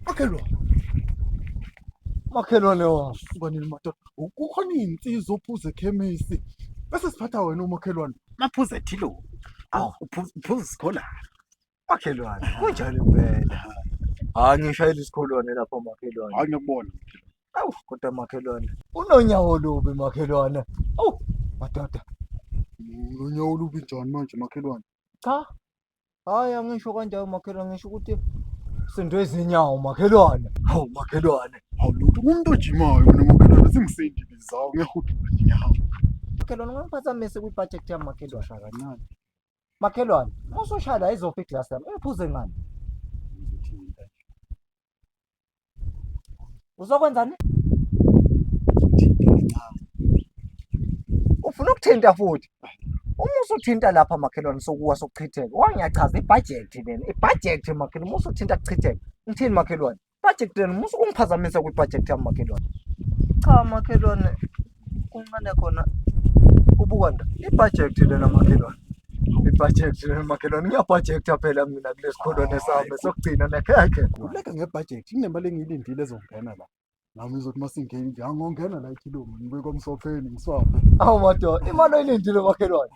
Makhelwane. Makhelwane wasuka nini madoda? Kukhona izinsizwa ophuza ekhemisi. Bese siphatha wena umakhelwane. Maphuza ethilo. Awu uphuza uphuza isikhola. Makhelwane. Kunjani impela? Hayi ngishayela isikholwane lapha makhelwane. Hayi ngiyakubona. Awu kodwa makhelwane. Unonyawo lubi makhelwane. Awu madoda. Unonyawo lubi njani manje makhelwane? Cha Hhayi angisho kanjalo makhelwane ngisho ukuthi sinto ezinyawo makhelwane. Hawu makhelwane. Hawu lutho umuntu ojimayo mina makhelwane singisindi bizawo ngiyahudula inyawo. Makhelwane ungangiphazamisi kwi-budget yami makhelwane. Shaya kancane. Makhelwane, uma usushaya la izofa iglasi yami. Ungiphuze ngani? Ngizothi mina nje. Uzokwenzani? Ufuna ukuthinta futhi. Uma usuthinta lapha makhelwane sokuwa sokuchitheka. Wangiyachaza ibhajethi lena. Ibhajethi makhelwane uma usuthinta kuchitheka. Ngithini makhelwane? Ibhajethi lena uma ungiphazamisa kwibhajethi yami makhelwane. Cha makhelwane Kuncane khona ubuka nda ibhajethi lena makhelwane ibhajethi lena makhelwane ngiyabhajektha phela mina kulesi kholwane sami sokugcina nekhekhe uleka ngebhajethi inemali engiyilindile ezongena la nami ngizothi uma singeni nje angongena la ikhilomi ngibe komsopheni ngiswaphe awu madoda imali oyilindile makhelwane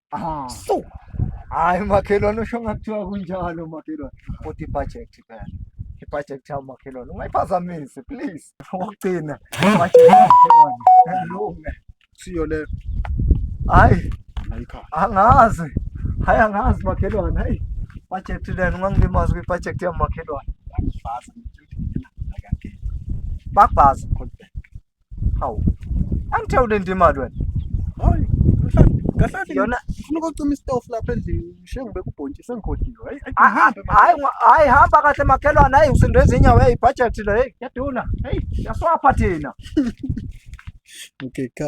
Aha. So. Hayi makhelwane usho ngakuthiwa kunjalo makhelwane. Kodwa ibudget phela. Ibudget yami makhelwane. Ungayiphazamisi please. Wokugcina. Ibudget makhelwane. Lunga. Siyo le. Hayi. Ayikho. Angazi. Hayi angazi makhelwane. Hayi. Budget lena ungangilimaza kwi budget yami makhelwane. Angifasa. Bakwazi kodwa. Hawu. Angithewule nje imali wena. Hayi, mhlambi. Kahlali Yona- ngifuna ukucima istofu lapha endlini. Ngishiye ngibeka ubhontshisi sengikhohliwe. Hayi, hayi, Hayi ngihambe, man. hayi ngwa- hayi hamba kahle makhelwane hayi usindwe izinyawo hey budget le hey yaduna hey yaswapha thina Okay, cut.